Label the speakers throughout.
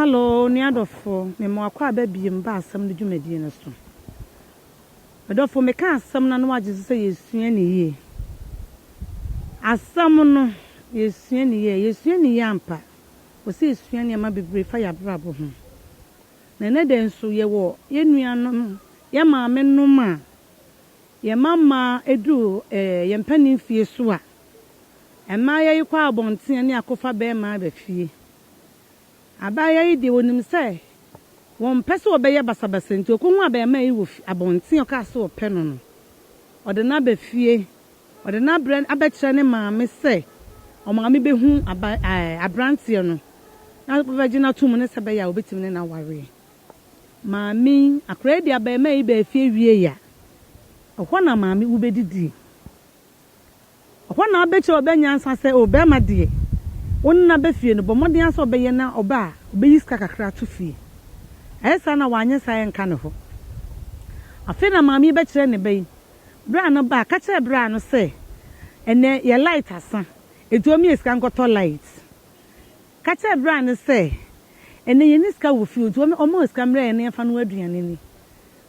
Speaker 1: Hello, nua dɔfo, me ma wakɔ aba biem ba asɛm no dwumadie no so. Me dɔfo, meka asɛm no na wagye so sɛ yɛsua ne yie. Asɛm no, yɛsua ne yie, yɛsua ne yie ampa. Wɔ sɛ yɛsua nneɛma bebree fa yɛn abrabɔ ho. Na ɛnɛ da nso yɛwɔ yɛn nuanom, yɛn maame nom a Yɛn mamma du yɛn mpanin mfeɛ so a, mmayewa yi kɔ abɔnten ne akɔfa barima aba fie. Abaayewa yi deɛ, ɔnim sɛ wɔmpɛ sɛ wɔbɛyɛ basabasa nti, ɔkɔhunu abarimaa yi wɔ abɔnten a ɔkaa sɛ ɔpɛ no no, ɔde no aba fie. Ɔde no abrɛ abɛkyerɛ ne maame sɛ ɔmaame bɛhu aberanteɛ no na wabɛgye no atom ne sɛbɛyɛ a ɔbɛtumi ne no awareɛ. Maame, akora yi de abarimaa yi baa fie wiei a, ɛhɔ na maame wobɛdidie. Ɛhɔ na wobɛkyerɛ ɔbaa nyansa sɛ, o barima deɛ, wo ne no aba fie no, bɔ mmɔden ara sɛ wobɛyɛ na ɔba a, wobɛyi sika kakra ato fie. Ayɛ saa na wanyɛ saa a, ɛnka ne hɔ. Afei na maame yi bɛkyerɛ ne ba yi, berɛ a no ba a, ka kyerɛ braa no sɛ, ɛnnɛ yɛ light asa, ɛti wɔmyɛ sika nkɔtɔ light. Ka kyerɛ bra no sɛ, Ɛnnɛ yɛnni sika wɔ fie o, nti wɔn wɔn mma sika mmrɛ yɛn na yɛmfa nnoa aduane nni.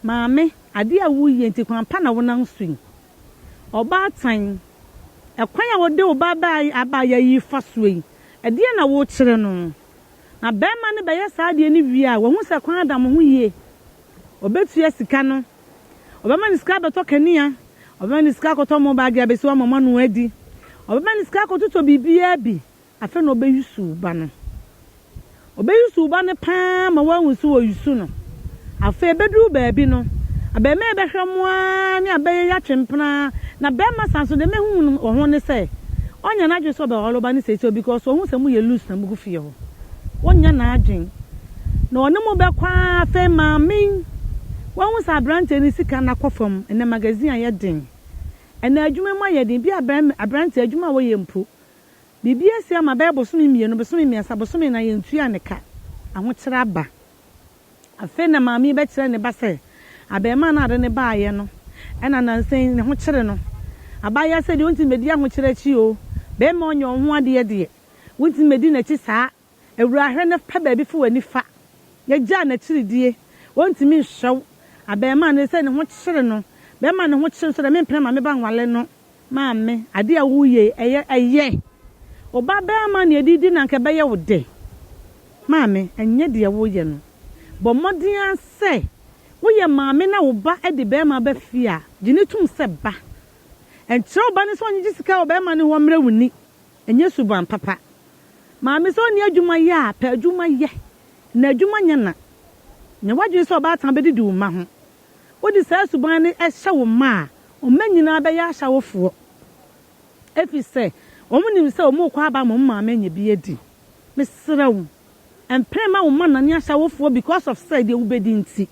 Speaker 1: Maame, adeɛ a woyɛ nti kwan pa na wonam so yi. Ɔbaatan, ɛkwan a wode wo ba ba abaayewa yi fa soɔ yi, ɛdeɛn na wokyerɛ no? Na barima no bɛyɛ saa adeɛ no wie a, wahu sɛ kwan da mo ho yie. Ɔbɛtua sika no. Ɔbɛma no sika abɛtɔ kanea, ɔbɛma no sika akɔtɔ mobile de abɛsi hɔ ama moanoa adi. Ɔbɛma no sika akɔtotɔ biribiara bi Afei na ɔbɛyusu wo ba no. Ɔbɛyusu wo ba no pa ara ma woahu sɛ ɔresu no. Afei ɛbɛduru baabi no, abarimaa yi bɛhwɛ mo ara ne abɛyɛ yi atwe mpena ara, na barima saa nso deɛ mahu no wɔ ho ne sɛ, ɔnnyɛ n'adwene sɛ ɔbɛware wo ba no seesei o because ɔhu sɛ moyɛ loose na mogu fie hɔ. Ɔnnyɛ n'adwene. Na ɔne mo bɛkɔ ara, afei maame yi, woahu sɛ aberanteɛ no sika no akɔ fam, ɛnnɛ magazine ayɛ den, ɛnnɛ adwuma mu ayɛ den, ebia aberanteɛ adwuma a wɔyɛ mpo, Biribi asi ama bɛyɛ bosome mmienu, bosome mmiɛnsa, bosome nnan, yɛntuaa ne ka. Ahokyerɛ aba. Afei na maame yi bɛkyerɛ ne ba sɛ abarimaa no a ɔde no baeɛ no na nnansa yi ne ho kyere no. Abaayewa sɛ deɛ ɔntumi mmɛdi ahokyerɛ akyi oo, barima a ɔnyɛ ɔho adeɛ deɛ, wontumi mmɛdi n'akyi saa. Awuraa hwɛ na fa baabi fa w'ani fa na gyaa n'akyiridie, wɔntumi nhwɛ wo, abarimaa no, ɛsiane ne ho kyere no, bɛma ne ho kyere no sɛ deɛ mempene maame ba nwale no, maame, adeɛ a woyɛ yi, ɛyɛ, ɛyɛ, wo ba barima na yɛde redi no anka ɛbɛyɛ wo dɛ, maame, ɛnyɛ deɛ woyɛ no, bɔ mmɔden ara sɛ woyɛ maame na wo ba de barima ba fie a, gye no tom sɛ ba, ɛnkyerɛ wo ba no sɛ ɔnyegye sika wɔ barima no hɔ mmrɛ wo ni. Ɛnyɛ suban papa. Maame sɛ ɔnni adwuma yɛ a, pɛ adwuma yɛ, na adwuma nyɛ na. Nyɛ w'adwene sɛ ɔbaatan bɛdidi wo mma ho. Wode saa suban no hyɛ wo mma a, wo mma nyinaa bɛyɛ ahyɛwofoɔ, ɛfiri sɛ wɔnim sɛ wɔrekɔ aba ama wɔn maame anya bi adi. Mesrɛ wo, mpere mma wo mma nnane ahyɛwofoɔ because of sɛ deɛ wobɛdi nti.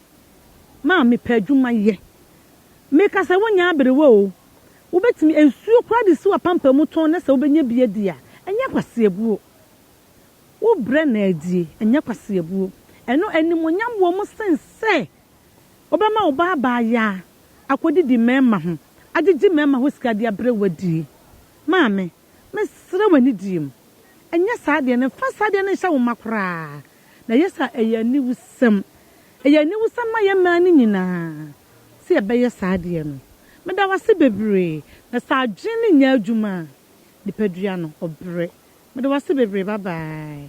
Speaker 1: Maame, pɛ adwuma yɛ. Meka sɛ wonyɛ aberewa o, Wobɛtumi nsuo koraa de si w'apampam mu tɔn na sɛ wobɛnya bi adi a, ɛnyɛ kwaseɛbuo. Wobrɛ na adie, ɛnyɛ kwaseɛbuo. Ɛno animuonyam wɔ mu sen sɛ wobɛma wo ba abaayaa akɔdidi mmarima ho, agyegye mmarima hɔ sika de abrɛ wo adie. Maame, mesrɛ wo anidie mu, nyɛ saa adeɛ no, mfa saa adeɛ no nhyɛ wo mma koraa. Na ɛyɛ sɛ a, ɛyɛ aniwusɛm. Ɛyɛ aniwusɛm ma yɛn mmaa no nyinaa. Sɛ yɛbɛyɛ saa deɛ no, meda wo ase bebree. Na sɛ adwene no nyɛ adwuma a, nipadua no, ɔbrɛ. Meda wo ase bebree, bye bye.